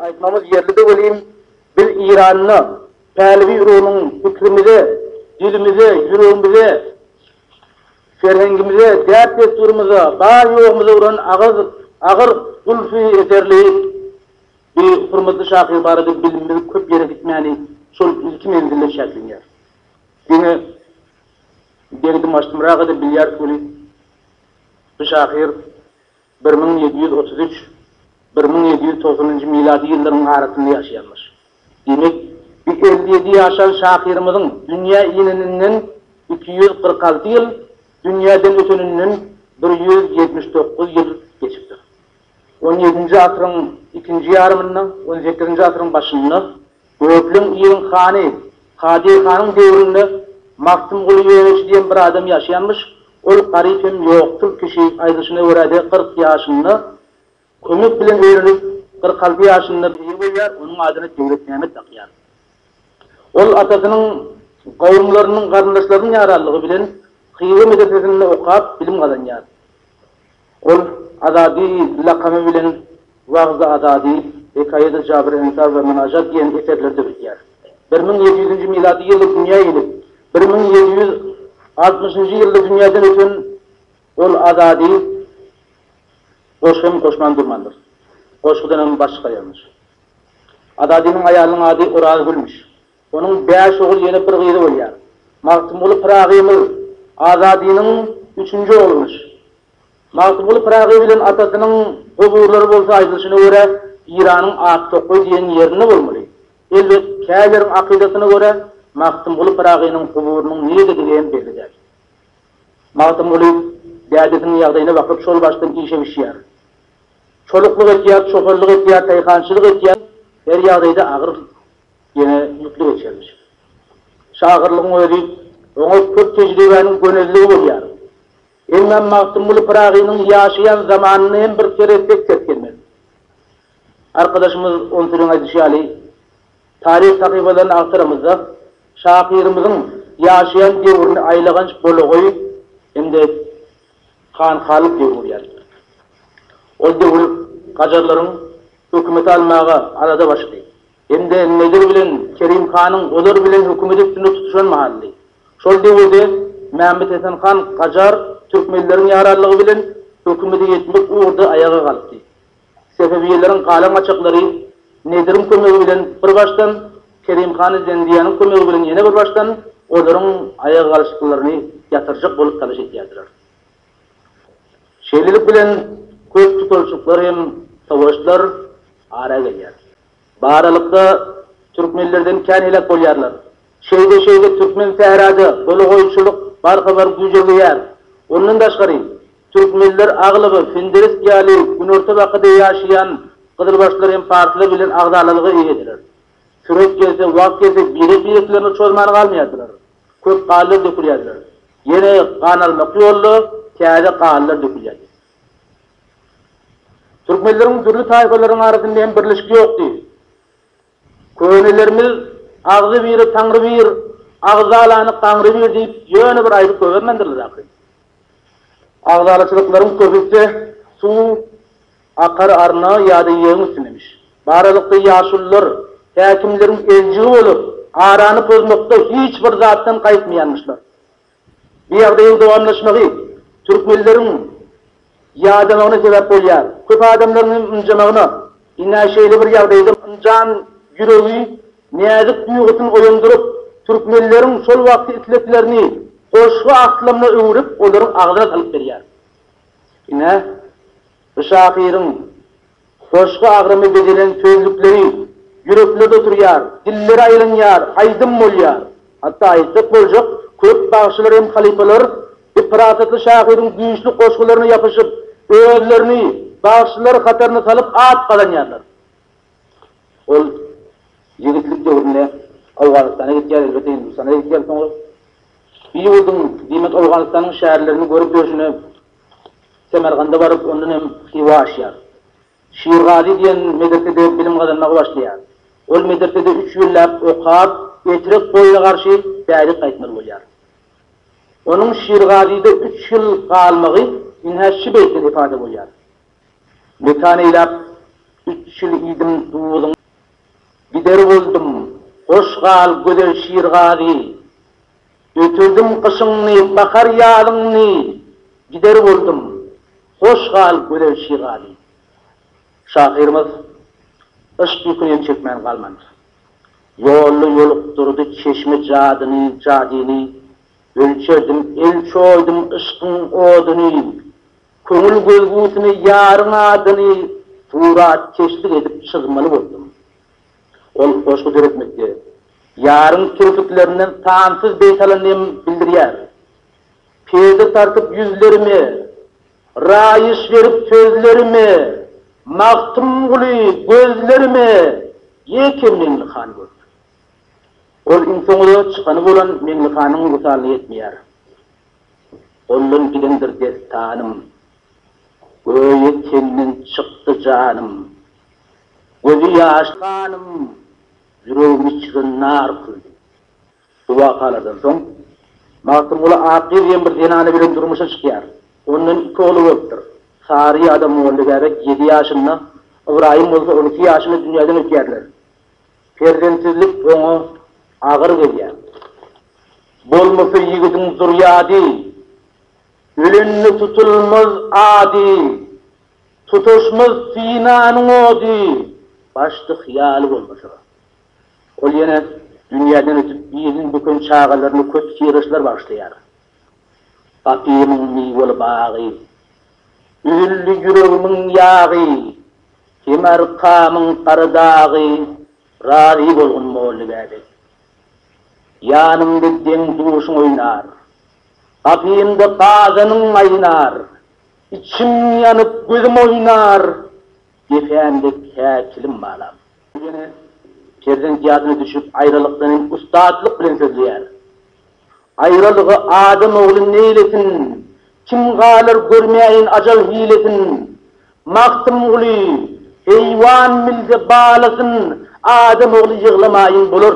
Aýtmamyz ýerlidir welin, biz Eýranda Pälewi urugynyň pikrimize, dilimize, ýüregimize, serhengimize, däp-dessurymyza, bar-ýogumyza uran agyz agyr gulpy eserli bi hurmatly şahyr barada bilimimiz köp ýere gitmäni şol ilki menzilde çäklenýär. Diňe degdim-açdymraga-da bilýäris welin, bi şahyr Bir müň ýedi ýüz otuz üç, bir müň ýedi ýüz togsanynjy milady ýyllaryň arasynda ýaşaýanmyş. Diýmek, bi elli ýedi ýaşan şahyrymyzyň dünýä ineninden iki ýüz kyrk alty ýyl, dünýäden öteninden bir ýüz ýetmiş dokuz ýyl geçipdir. On ýedinji asyryň ikinji ýarymynda, on sekizinji asyryň başynda Gökleň ýeriň hany, Kadyr hanyň döwründe Magtymguly Ýöneçi diýen bir adam ýaşaýanmyş, ol garyp hem ýoksul kişi, aýdylyşyna görä-de kyrk ýaşynda kömek bilen öýlenip, kyrk alty ýaşynda eýe bolýar, onuň adyna Döwletmämmet dakýar. Ol atasynyň, gowumlarynyň, garyndaşlarynyň ýaranlygy bilen Hywa medresesinde okap, bilim gazanýar. Ol Azady lakamy bilen Wagzy Azady, Hekaýady Jabr Ensar we Mynajat diýen eserlerde bilýär. Bir müň ýedi ýüzünji milady ýylda dünýä gelip, bir müň ýedi ýüz altmyşynjy ýylda dünýäden öten ol Azady goşgy hem goşman durmandyr. Goşgudan hem baş çykarýarmyş. Azadynyň aýalynyň ady Orazgülmüş. Onuň bäş ogul, ýene bir gyzy bolýar. Magtymguly Pyragynyň, Azadynyň üçünji oglumyş. Magtymguly Pyragy bilen atasynyň goburlary bolsa aýdylyşyna görä Eýranyň Aktokgoý diýen ýerinde bolmaly. Elbet, kärileriň akydasyna görä Magtymguly Pyragynyň guburynyň nirdedigem hem belli däl. Magtymguly dädesiniň ýagdaýyna bakyp şol başdan işe bişýär. Çoluklyk etýär, çopanlyk etýär, taýhançylyk etýär, her ýagdaýda agyr Ýene ümitli geçermiş. Şahyrlygyň özi, oňa köp tejribäniň gönezligi bolýar. Hemem Magtymguly Pyragynyň ýaşaýan zamanyny hem bir seretsek ses gelmez. Arkadaşymyz Onsuryň aýdyşy ýaly, taryh sahypalaryny agtaramyzda, şahyrymyzyň ýaşaýan döwrüni aýlaganç bolagoýy hem-de hanhalyk döwri bolýar. Ol döwür gajarlaryň hökümeti almaga alada başlady. Hem-de Nedir bilen Kerim hanyň olar bilen hökümeti üstünde tutuşan mahaly. Şol döwürde Mämmetesen han Gajar türkmenleriň ýaranlygy bilen hökümete ýetmek ugurda aýaga galkdy. Sefewiýeleriň galan-gaçaklary Nediriň kömegi bilen bir başdan, Kerim hany Zendiýanyň kömegi bilen ýene bir başdan olaryň aýaga galyşyklaryny ýatyrjak bolup talaş edýärdiler. Şeýlelik bilen köp tutalşyklar hem sowaşlar ara gelýär. Baralykda türkmenlerden kän heläk bolýarlar. Şeýde-şeýde türkmen sähraja doly goýunçylyk barha bar güýjelgeýär. Ondan daşgary, türkmenler aglygy Finderesk ýaly Günorta Bakada ýaşaýan gyzylbaşlar hem parslar bilen agzalalyga eýediler. Süret gelse, wagt gelse birek-bireklerine çozman galmaýardylar. Köp galylar dökülýärdiler. Ýene gan almak ýolda täze galylar dökülýärdi. Türkmenleriň dürli taýpalaryň arasynda hem birleşik ýokdy. Könelerimiz Agzybiri Taňrybir, agzalany Gaňrybir diýip ýöne bir aýdyp goýbermändirler ahyryn. Agzalaçylyklaryň köpüsi suw akar arna ýa-da ýegiň üstündemiş. Bu aralykda ýaşulular häkimleriň eljigi bolup, arany pozmakda hiç bir zatdan gaýtmaýanmyşlar. Bu ýagdaýyň dowamlaşmagy türkmenleriň ýadamagyna sebäp bolýar. Köp adamlaryň hem ynjamagyna, ine, şeýle bir ýagdaýda ynjan ýüregi näzik duýgusyn oýandyryp, türkmenleriň şol wagtky isleglerini goşgy aslamyna öwrüp, olaryň agzyna salyp berýär. Ine, bu şahyryň. Goşgy agramy bezelen sözlükleri ýüreklerde oturýar, dillere aýlanýar, aýdym bolýar. Hatda aýtsak boljak, köp bagşylar hem halypalar bu parasatly şahyryň güýçli goşgularyna ýapyşyp, özlerini bagşylar hataryna salyp at gazanýarlar. Ol ýigitlik döwründe Owganystana gitýär, elbetde Hindistana-da gitýär soňra. Biýulding, diýmek Owganystanyň şäherlerini görüp ýörşüne, Semerganda baryp, ondan hem Hywa aşýar. Şirgazy diýen medresede bilim gazanmaga başlaýar. Ol medresede üç ýyllap okap, Etrek boýuna garşy bärik gaýtmaly bolýar. Onuň Şirgazyda üç ýyl galmagy ynha şü beýtden ipada bolýar, Mekan eýläp üç ýyl iýdim duzuň. Gider boldum, hoş gal, gözel Şirgazy! Ötürdim gyşyňny, bahar-ýazyňny, Gider boldum, hoş gal, gözel şigali. Şahyrymyz yşk ýükünem çekmän galmandyr. Ýolly ýolukdyrdy çeşme jadyny, jadyny, Ölçerdim, el çoýdum yşkyň oduny, Köňül gözgüsine ýaryň adyny, Suratkeşlik edip çyzmaly boldum. Ol goşgy döretmekde ýaryň kirpiklerinden sansyz beýt alan hem bildirýär. Perde tartyp ýüzlerime, Raýyş berip sözlerime, Magtymguly gözlerime Ýeke Meňlihan görüp. Ol iň soňy çykany bolan Meňlihanyň wysalyna ýetmeýär. Goldan gidendir destanym, Göýä tenden çykdy janym, Gözi ýaşly hanym ýüregimi çyzan nar küldi. Şu wakalardan soň Magtymguly Akýüz diýen bir zenany bilen durmuşa çykýar. Ondan iki ogly bolupdyr. Saryýa adam Mollabäbek ýedi ýaşynda, Ybraýym bolsa on iki ýaşynda dünýäden ötýärler. Perzentsizlik oňa agyr gelýär. Bolmasa ýigidiň zürýady. Ölende tutulmaz ady. Tutuşmaz synanyň ody başda hyýaly bolmasa. Ol ýene dünýäden ötüp biriniň böken çagalaryna köp syryşlar bagyşlaýar. Gapymyň miweli bagy. Üzüldi ýüregimiň ýagy. Hem arkamyň gara dagy. Razy bolgun Molla Bäbek. Ýanymda deň-duşuň oýnar. Gapymda gazanyň gaýnar. Içim ýanyp, gözüm oýnar. Depämde kä kilim balap. Bu ýene perzent ýadyna düşüp, aýralykdan hem ussatlyk bilen sözleýär. Aýralygy adam ogly neýlesin, Kim galar görmäýin ajal hilesin. Magtymguly, Heýwan bilse balasyn, Adam ogly ýyglamaýyn bolar.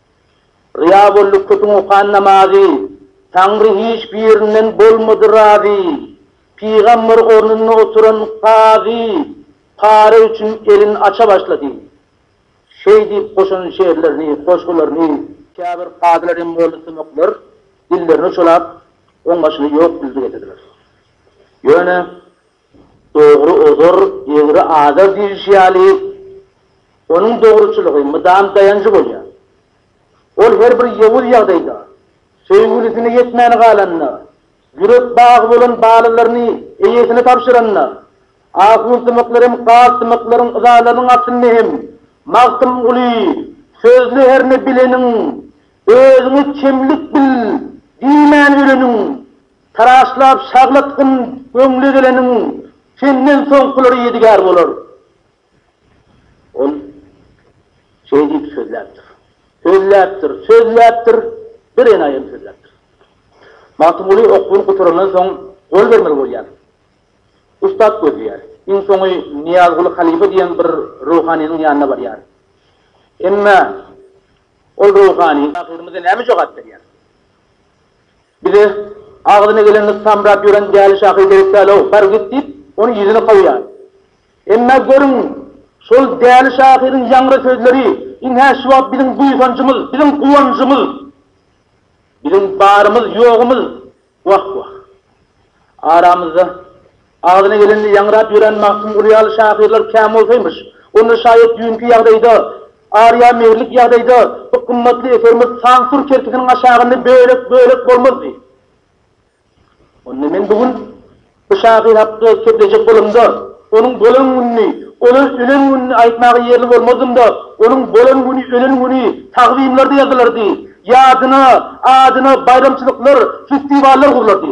Ryýa boldy köpüň okan namazy, Taňry hiç birinden bolmady razy. Pygamber ornunda oturan kazy, Para üçin elin aça başlady. Şeý diýip goşan şeýrlerini, goşgularyny. Käbir kazylar hem boldy tömekler, Dillerini uçalap, oňbaşyny ýok bildi getirdiler. Ýöne. Dogry ozar, egri azar diýlişi ýaly, onuň dogruçylygy mydam daýanjy bolýar. Ol her bir ýowuz ýagdaýda, söýgülisine ýetmän galanda, ýürek bagy bolan balalaryny eýesine tabşyranda, ahunsymaklar hem garsymaklaryň yzalarynyň astynda hem Magtymguly sözli herne bileniň, özüňe kemlik bil diýmän öleniň, Taraşlap şaglatgyn göňle geleniň, senden soňkulary ýedigär bolar. Ol şeý diýip sözläpdir. Sözläpdir, sözläpdir, birenaýym sözläpdir. Magtymguly okuwyny gutarandan soň gol bermeli bolýar. Ussat gözleýär. Iň soňy Nyýazguly halypa diýen bir ruhanynyň ýanyna barýar. Emma ol ruhany şahyrymyza näme jogap berýär? Bize agzyna geleni samrap ýören däli şahyr gerek däl-ow, bar git diýip, onuň ýüzüni kowýar. Emma görüň, şol däli şahyryň ýaňra sözleri iň-hä şu wagt biziň buýsanjymyz, biziň guwanjymyz, biziň barymyz, ýogumyz. Wah-wah! Aramyzda. Agzyna gelenini ýaňrap ýören Magtymguly ýaly şahyrlar kän bolsaýmyş. Onda şaýat düýnki ýagdaýda, Arýa Mehrlik ýagdaýda bu gymmatly eserimiz sansur kerpisiniň aşagynda bölek-bölek bolmazdy. Onda men bu gün bu şahyr hakda söplejek bolamda, onuň bolan gününi, ol ölen gününi aýtmaga ýerli bolmazdym-da, onuň bolan güni, ölen güni takzymlarda ýazylardy, ýadyna, adyna baýramçylyklar, festiwallar gurlardy.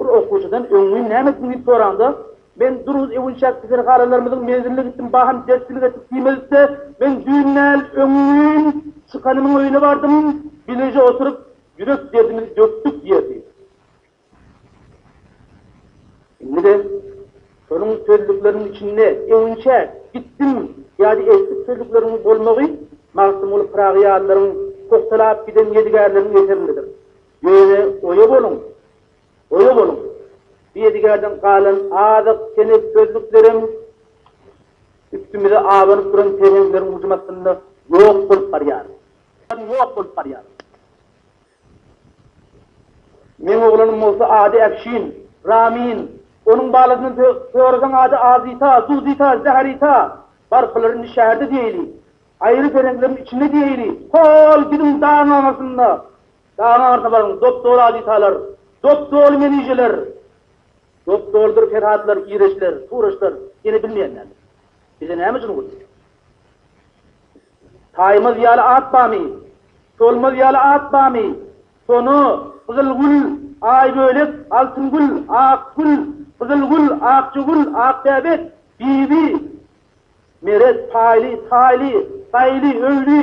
Bir okuwçydan öň men näme etdim diýip soranda, Men duruz öwünçäk keselhanalarymyzyň menziline gitdim, bahym derslik etdik diýmezlikde, men düýn däl, öňňin çykanymyň öýüne bardym, bileje oturyp, ýürek derdimizi dökdük diýerdi. Indi-de şonuň sözlükleriniň içinde öwünçäk, gitdim, ýady etdik sözlükleriniň bolmagy Magtymguly Pyragy ýalylaryň pugtalap giden ýedigärleriniň eserinidir. Ýöne oýa boluň! Oýa boluň! Bu ýedigärden galan azyk tenessözlüklerem üstümize abanyp duran pereňleriň hujum astynda ýok bolup barýar. Ýok bolup barýar. Meň oglanym bolsa ady Äfşin, Ramin, onuň balasyndan sorasaň ady Azita, Zuzita, Zährita. Barklary indi şäherde diýeýli. Aýry pereňleriň içinde diýeýli. Hol biziň daňaňasynda Dagyň ardyna baryň, dop-doly adytalar, dop-doly menijeler, dop-dolydyr ferhatlar, ireçler, turaçlar ýene bilmeýän näme? Bize näme üçin ugur? Taýmaz ýaly at bamy? Solmaz ýaly at bamy? Sona, Gyzylgül, Aýbölek, Altyngül, Akgül, Gyzylgül, Akjagül, Akbäbek, Bibi, Meret, Paýly, Taýly, Taýly, Öwli,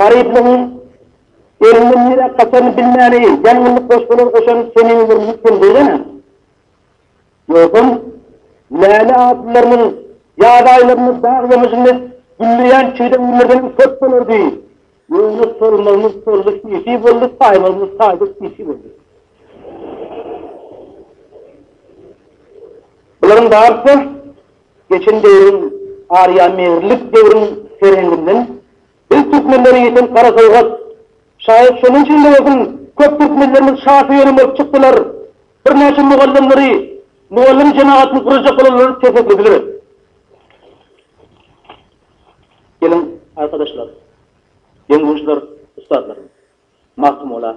Garyplygyň elinden nirä gaçaryny bilmäleýin, ýangynly goşgular goşan Seniň bir müňkün diýsene. Ýogsam, Läle atlylarymyz ýaz aýlarynda dag ýamajynda gülleýän çigde günlerdenem köp bolardy. Ýöne solmazymyz soldy sisi boldy, saýmazymyz saýdy sisi boldy. Bularyň barysy Geçen döwrüň, aryamegirlik döwrüň serhenginden biz türkmenleri ýiten gara sowgat. Şaýat şonuň üçin-de bolsun, köp türkmenlerimiz şa söýeni bolup çykdylar. Birnäçe mugallymlary, mugallym jemagatyny gurajak bolanlary kesgitlediler. Geliň, arkadaşlar, deň-duýuşlar, ussatlarym! Magtymgula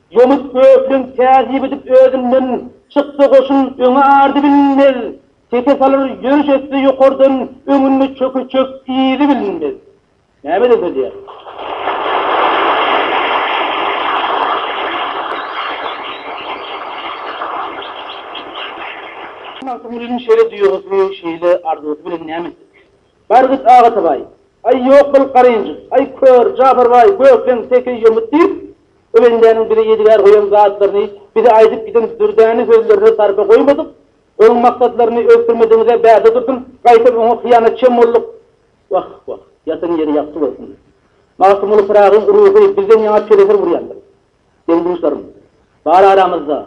Ýomut böklen täzip edip özünden, Çyksa goşun öňe ardy bilinmez. Seke salar ýörüş etse ýokardan, Öňünde çöke çök yzy bilinmez. Näme edip edýär. Magtymgulynyň şeýle duýgusy, şeýle arzusy bilen näme etdik. Bar git Agatabaý. Aý ýok bol garynjyk. Aý kör, Japar baý, Gökleň, Seke, Ýomut diýip, Bu bendäniň bize ýedigär goýan zatlaryny bize aýdyp giden dürdäne sözlerine sarpa goýmadyk, onuň maksatlaryny ösdürmedigiňize bärde durdum, gaýtam oňa hyýanatçam bolduk. Wah, wah, ýatan ýeri ýagty bolsun. Magtymguly Pyragyň ruhy bizden ýaňa telefor urýandyr. Deň-duşlarym, bar aramyzda.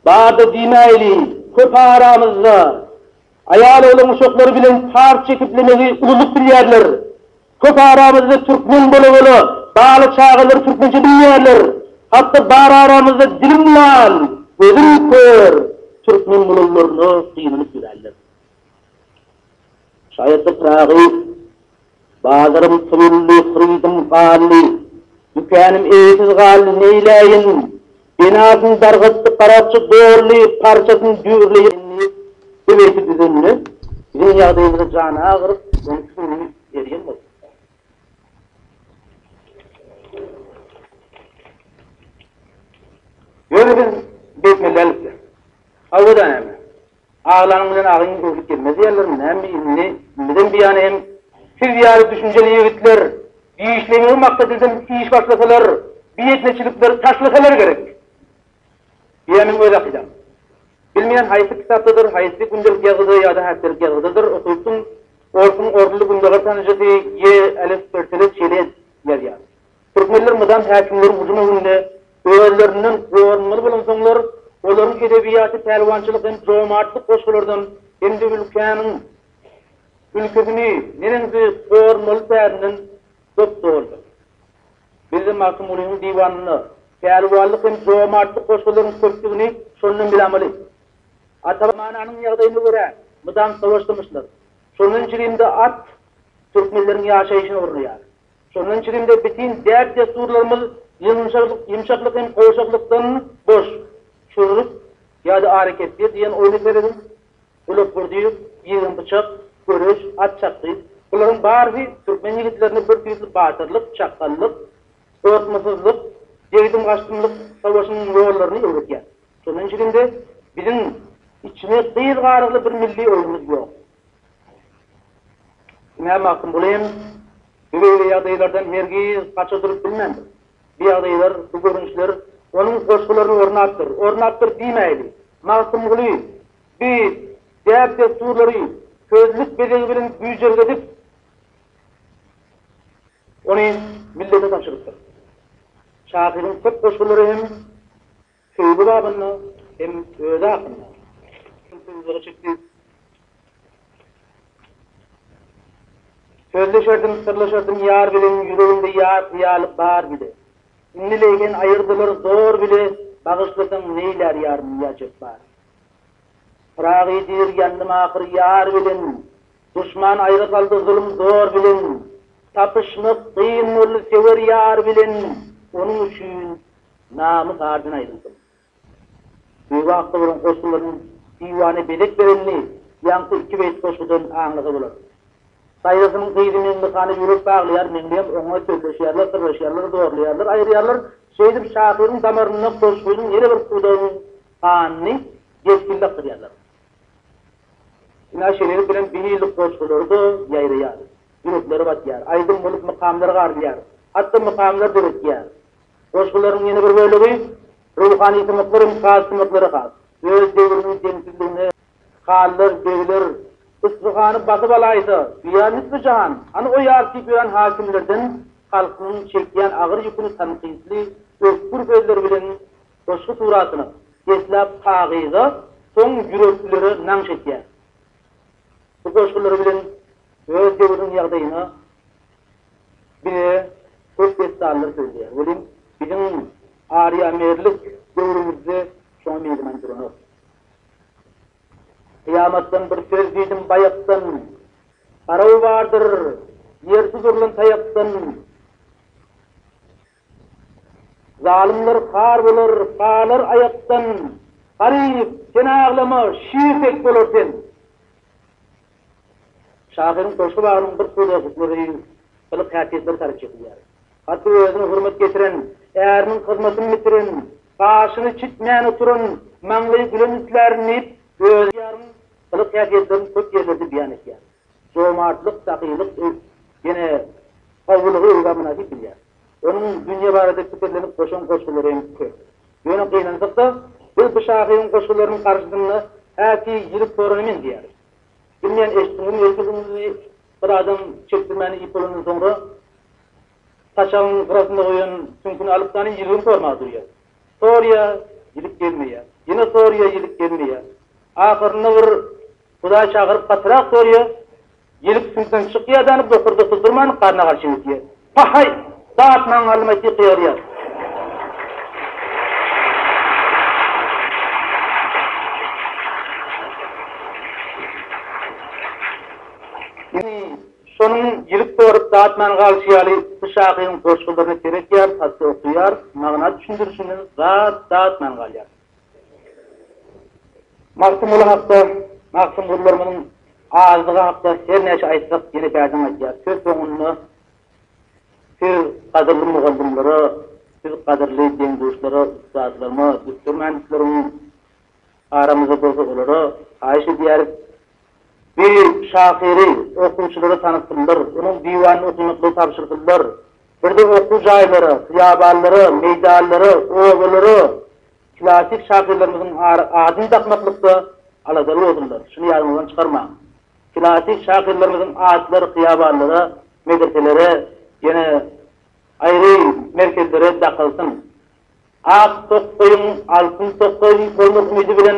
Bar-da diýmäýli, köp aramyzda. Aýal oglan uşaklary bilen par çekiplemegi ululyk bilýärler. Köp aramyzda türkmen bola-bola, bala çagalary türkmençe bilmeýärler. Hatda bar aramyzda dilim lal, gözüm kör türkmen bolanlaryna gynynyp ýöränler. Şaýatlyk Pyragy Bazarym pully, hyrydym gally, Dükänim eýesiz gally, neýläýin? Binasyn dargatdy garakçy Dolly, parçasyn düýrleýär indi. Bu beýti düzende, biziň ýagdaýymyza jany agyryp, ony süňňi erýän boldy. Ýöne biz beýtmeli däldik-le. Hawa-da näme? Aglaň bilen agyň degşip gelmez diýerlermi näme indi bizem bu ýana hem siz ýaly düşünjeli ýigitler işlemegiň maksady bilen iş başlasalar bu etneçilikleri taşlasalar gerek diýýän meň öz akydam. Bilmeýän haýsy kitapdadyr haýsy gündelik ýazgyda ýa-da häpdelik ýazgydadyr okypdym orsuň orunly gündogar tanyjysy ýe Alef Pertele Çelez ýazýar. Türkmenler mydam häkimleriň hüjüm öňünde özlerinden gorunmaly bolansoňlar, olaryň edebiýaty pälwançylyk hem jomartlyk goşgulardan hem-de ülkäniň ülküsini neneňsi gormaly tärinden dop-dogandyr. Bizde Magtymgulynyň diwanynda pälwanlyk hem jomartlyk goşgularyň köpdügini şondan bilamaly. Ata zamananyň ýagdaýyna görä mydam sowaşdymyşlar. Şondan çigim-de at türkmenleriň ýaşaýşyna ornaýar. Şonuň üçin-de bütin däp-dessurlarymyz ýumşaklyk hem gowşaklykdan boş. Çürrük ýa-da arakepgir diýen oýna serediň. Gulakgurdyýew, ýigen pyçak, göreş, at çapgy, bularyň barysy türkmen ýigitlerine bir tüýsli batyrlyk, çakgallyk, gorkmasyzlyk, degdim-gaçdymlyk sowaşynyň ýollaryny öwredýär. Şonuň üçin-de biziň içine gyz garygly bir milli oýnumyz ýok. Diňe Magtym uly hem bu beýle ýagdaýlardan hergiz gaça durup bilmändir. Bu ýagdaýlar, bu görnüşler onuň goşgularyny ornapdyr, ornapdyr diýmäýli. Magtymguly bu däp-dessurlary sözlük bezegi bilen güýjergedip, ony millete tabşyrypdyr. Şahyryň köp goşgulary hem Söýgi babynda hem özi hakynda şol sözleri çekdi. Sözleşerdim, syrlaşardym ýar bilen, ýüreginde ýar hyýaly bar bile. Indi leýhen aýyrdylar zor bile, bagyşlasaň neýlär ýar Miýa Jepbar. Pyragy diýr ýandym ahyr ýar bilen, duşman aýra saldy zulum zor bilen. Tapyşmak kyn boldy sewer ýar bilen, onuň üçin Namy bardan aýdylsyn. Beýwagt olaryň goşgularynyň diwana bezek berenini ýaňky iki beýit goşgudan aňlasa bolar. Saýrasynyň gyzy Meňlihana ýürek baglaýar, Meňliham oňa sözleşýärler, syrlaşýarlar, zorlaýarlar, aýyrýarlar. Şeýdip şahyryň damarynda goşgynyň ýene bir pudagynyň ganyny depginli akdyrýarlar. Ynha şeýlelik bilen biň ýyllyk goşgulary-da ýaýraýar, ýüreklere batýar, aýdym bolup mykamlar garylýar, hatda mykamlar döretýär. Goşgularyň ýene bir bölegi ruhany sumaklar hem saz sumaklara has. Öz döwrüniň deňsizligine Hallar, begler, Yspyhany basyp alaýsa, duýar lütfi jahan, hany o ýar diýip ýören hakimlerden halkynyň çekýän agyr ýüküni tankytly, ötgür sözler bilen goşgy suratyna, deslap kagyza, soň ýüreklere nagş etýär. Bu goşgulary bilen öz döwrüniň ýagdaýyna, Diňe köp dessallar sözleýär, welin biziň arýamerlik döwrümizde şoňa meýliman duranok. Kyýamatdan bir söz diýdim baýakdan, Garaw bardyr, ýersiz urlan taýakdan. Zalymlar har bolar, galar aýakdan, Garyp, sen aglama, şir tek bolar sen. Şahyryň goşgy bagynyň bir pudra hukmady gylyk häsiýetleri taryp çekilýär. Hatda özüne hurmat getiren, äriniň hyzmatyny bitiren, gaşyny çitmän oturan, maňlaýy gülen islärdim diýip, öz ýaryň gylyk häsiýetlerini köp ýerlerde beýan etýär. Jomartlyk, sahylyk ýene sawulygy öz gamyna siňdirýär. Onuň dünýe barada pikirlenip goşan goşgulary hem köp. Ýöne gynansak-da, biz bu şahyryň goşgularynyň garşysynda häki ýirik sorana meňzeýäris. Bilmeýän eşitdiňizmi, ertir gündizi bir adam çekdirmäni iýip bolandan soňra, saçagyň gyrasynda goýan süňküni alyp sany ýirigim sormaga durýar. Sorýar, ýirik gelmeýär. Ýene sorýar, ýirik gelmeýär. Ahyrynda bir Hudaý çagyryp gatyrak görýär, ýelik süýdüden çykýar däni bokurda syzdyrman garna garşy öýdýär. Pahaý! Zat maňa alymay syh ýygyrýar. Indi şonuň ýelik sorup zat man galyşy ýaly bu şahyryň goşgularyny seretýär, satja okýar, magna düşündirişinde zat zat man galýar. Magtymguly hakda, Magtymgulylarymyzyň azdygy hakda her näçe aýtsak, ýene bärden gaýdýarys. Söz soňunda siz gadyrly mugallymlara, siz gadyrly deň-duşlara, ussatlaryma, düsser-mändislerimiň aramyzda bolsa olara haýyş edýäris. Bu şahyry okuwçylara tanysyldyr, onuň diwanyny okymaklygy tabşyryldyr. Bir-de okuw jaýlara, hyýabanlara, meýdanlara, obalara klassyk şahyrlarymyzyň adyny dakmaklykda aladaly boldular. Şuny ýadyňyzdan çykarmaň. Klassyk şahyrlarymyzyň adlary hyýabanlara, medreselere, ýene aýry merkezlere dakylsyn. Ak tokgaýyň altyn tokgaýyň bolmak umydy bilen,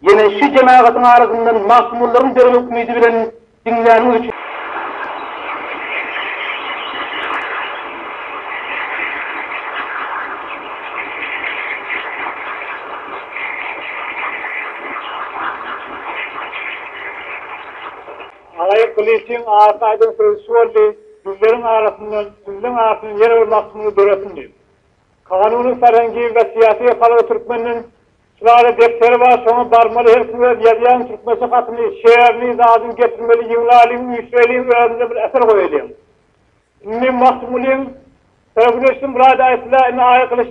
ýene şu jemagatyň arasyndan magtymgullaryň döremek umydy bilen diňläniň üçin. Agaýy Gylyçyň arka aýdan sözi şu boldy, Düzleriň arasyndan, düzleň arasyndan ýene bir magtymguly döresin diýip. Kanunyň Sarangi we Syýasy Halga Türkmenden şulary depderi bar şoňa barmaly her kim öz ýazýan türkmençe hatyny şeerini zadyny getirmeli ýygnalyň üýşreliň özümize bir eser goýalyň indi Magtymgulyň Söýgüdeşim Murad aýtdylar indi Aýa Gylyç